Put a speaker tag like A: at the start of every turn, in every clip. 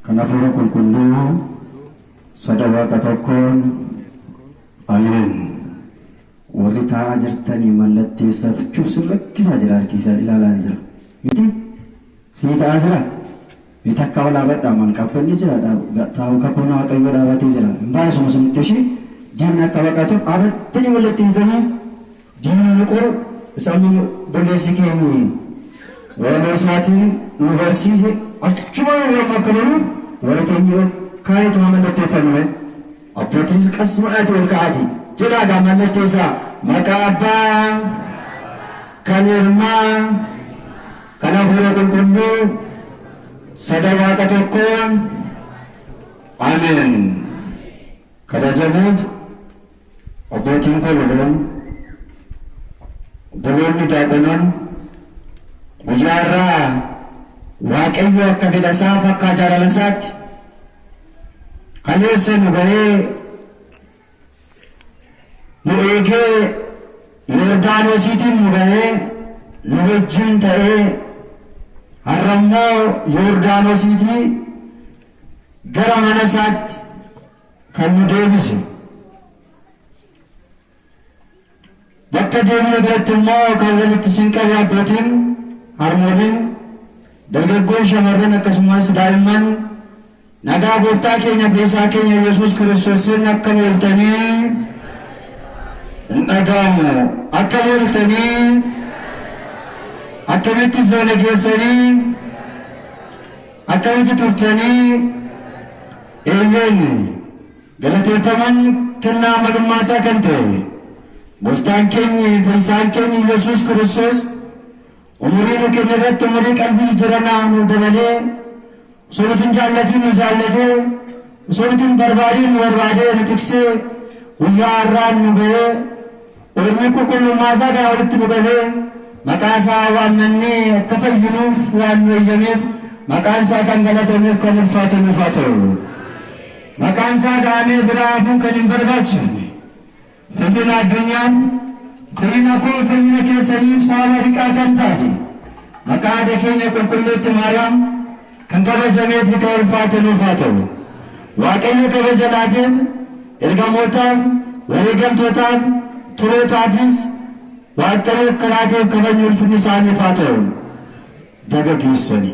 A: Kan Hafuura Qulqulluu soda Waaqa tokkoon, Ameen. Warri taa'aa jirtani mallatteessafchuu sin rakkisaa jira harki isaa ilaalaan jira miti? Sii ta'aa jira? Mee takka ol dhaabadhaa mal qabbanni jira dha taa'u kakuun Waaqayyoo dhaabatee jira hin baay'isuma sinitti ishii diinni akka baqatu abattani mallatteessitanii? Diinni nu qoru isa inni obboleessi keenyi walaloo isaatiin nu barsiise achumaan irraa immoo akka baruuf warri teenyee ol kaaneetu haa mallatteeffannu mee. Abbootiinis qasmaadhaatii ol ka'aatii jedhaa egaa mallatteessaa maqaa Abbaa, kan Ilmaa, kan Hafuura Qulqulluu, Sada Waaqa Tokkoo. Ameen. Kabajamoof. Abbootiin koo lamaan, obboloonni daaqonaan, guyyaa har'aa Waaqayyo akka fedha isaaf akka jaalala isaatti kaleessa nu ga'ee nu eegee Yordaanosiitiin nu ga'ee nu wajjin ta'ee har'a immoo Yordaanosiitii gara mana isaatti Kan nu deebise bakka deemne biratti immoo kan walitti isin qabu abbootiin, harmooliin, dargaggoon, shamarran akkasumas daa'imman nagaa gooftaa keenya fayyisaa keenya Yesuus Kiristoosiin akka nu ooltanii hin dhaga'amu. Akka nu ooltanii akkamitti foona keessanii Akkamitti turtanii? Eeyyeen, galateeffamaan kennaa amalummaa isaa kan ta'e Gooftaan keenyi fayyisaan keenyi Yesuus Kiristoos umurii nu kenne irratti umurii qalbii jijjiranaa nuu dabalee osoo nuti hin jaallatiin nu jaallatee osoo nuti hin barbaadiin nu barbaadee nu tiksee guyyaa har'aan nu ga'ee Oromoon qulqullummaasaa kana olitti nu gahee maqaasaa waamnannee akka fayyinuuf waan nu eyyameef maqaansaa kan galatamuuf kan ulfaatamuuf haa ta'u. Maqaansaa dha'amee biraa hafuun kan hin barbaachifne fayyina addunyaan fayyina koo fayyina keessaniif sababa riqaa kan taate maqaa haadha keenya qulqulleetti Maariyaam Kan kabajamee fi kan ulfaate nuuf haa ta'u. Waaqayyo kabaja laateen ergamootaaf, wareegamtootaaf, tolootaafis Waaqayyo akka laateef kabajni ulfinni isaaniif haa ta'u. Baga geessani.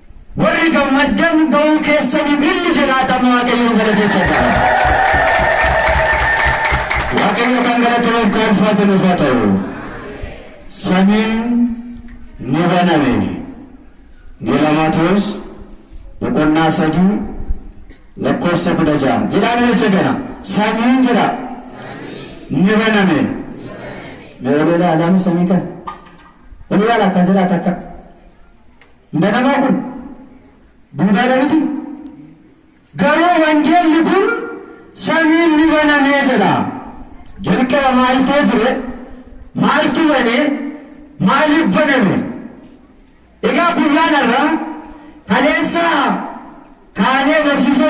A: Warri gammaddan ba'uu keessaniif illi jiraatan Waaqayyoon galateeffadhaa. Waaqayyo kan galatamuuf kan ulfaatu nuuf haa ta'u. Samiin ni baname. Gelaamaatoos boqonnaa sadii lakkoofsa kudha ja'a. Jedhaa nu jecha kana. Samiin jedha. Ni baname. Mee ol ilaalaa mee samii kana. Ol ilaala akkas jedhaa takka. Manamaa kun duudaadha miti? Garuu wangeelli kun samiin ni banamee jedha. Jalqaba maal ta'e ture? Maaltu bane? Maaliif baname? Egaa guyyaan har'aa kaleessaa kaanee barsiisonni.